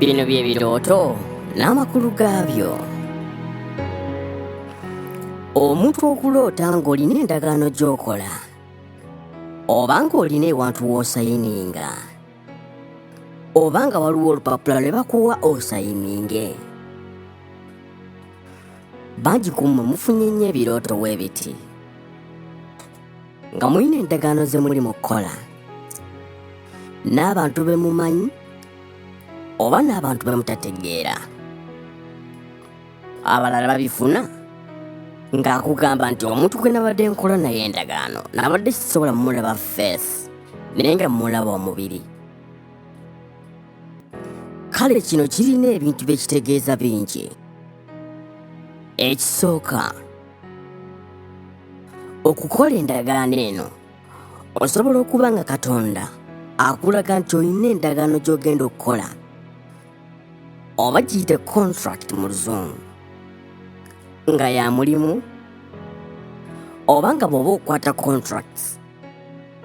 Bino bye birooto n'amakulu gaabyo. Omuntu okuloota ng'olina endagaano gy'okola oba ng'olina ewantu w'osayininga oba nga waliwo olupapula lwe bakuwa osayininge. Bangi ku mmwe mufunye nnyo ebirooto w'ebiti. nga mulina endagaano ze muli mu kukola n'abantu be mumanyi oba n'abantu be mutategeera abalala babifuna ng'akugamba nti omuntu gwe nabadde nkola naye endagaano nabadde sisobola mulaba feesi naye nga mulaba omubiri kale kino kirina ebintu bye kitegeeza bingi ekisooka okukola endagaano eno osobola okuba nga katonda akulaga nti olina endagaano gy'ogenda okukola oba giyite contract mu luzungu nga ya mulimu oba nga bw'oba okukwata contracts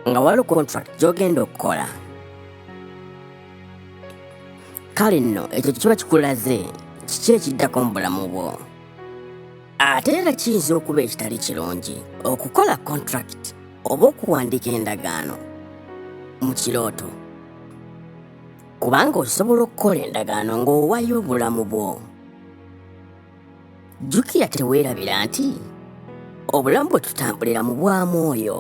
nga waliwo contract gy'ogenda okukola kale nno ekyo kiba kikulaze kiki ekiddako mu bulamu bwo ate era kiyinza okuba ekitali kirungi okukola kontrakiti oba okuwandiika endagaano mu kirooto kubanga osobola okukola endagaano ng'owayo obulamu bwo jjukira teweerabira nti obulamu bwe tutambulira mu bwa mwoyo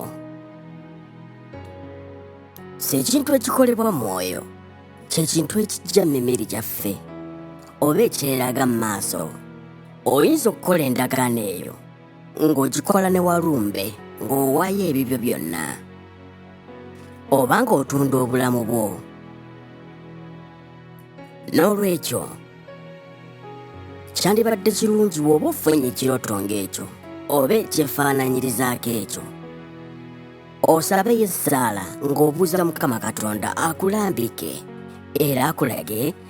si ekintu ekikolebwa mwoyo kyekintu ekijja mu mimiri gyaffe oba ekyeraga mu maaso oyinza okukola endagaano eyo ng'ogikola ne walumbe ng'owaayo ebibyo byonna oba ng'otunda obulamu bwo n'olwekyo kyandibadde kirungi wooba ofunye ekirooto ng'ekyo oba ekyefaananyirizaako ekyo osabeyo essaala ng'obuuza mukama katonda akulambike era akulage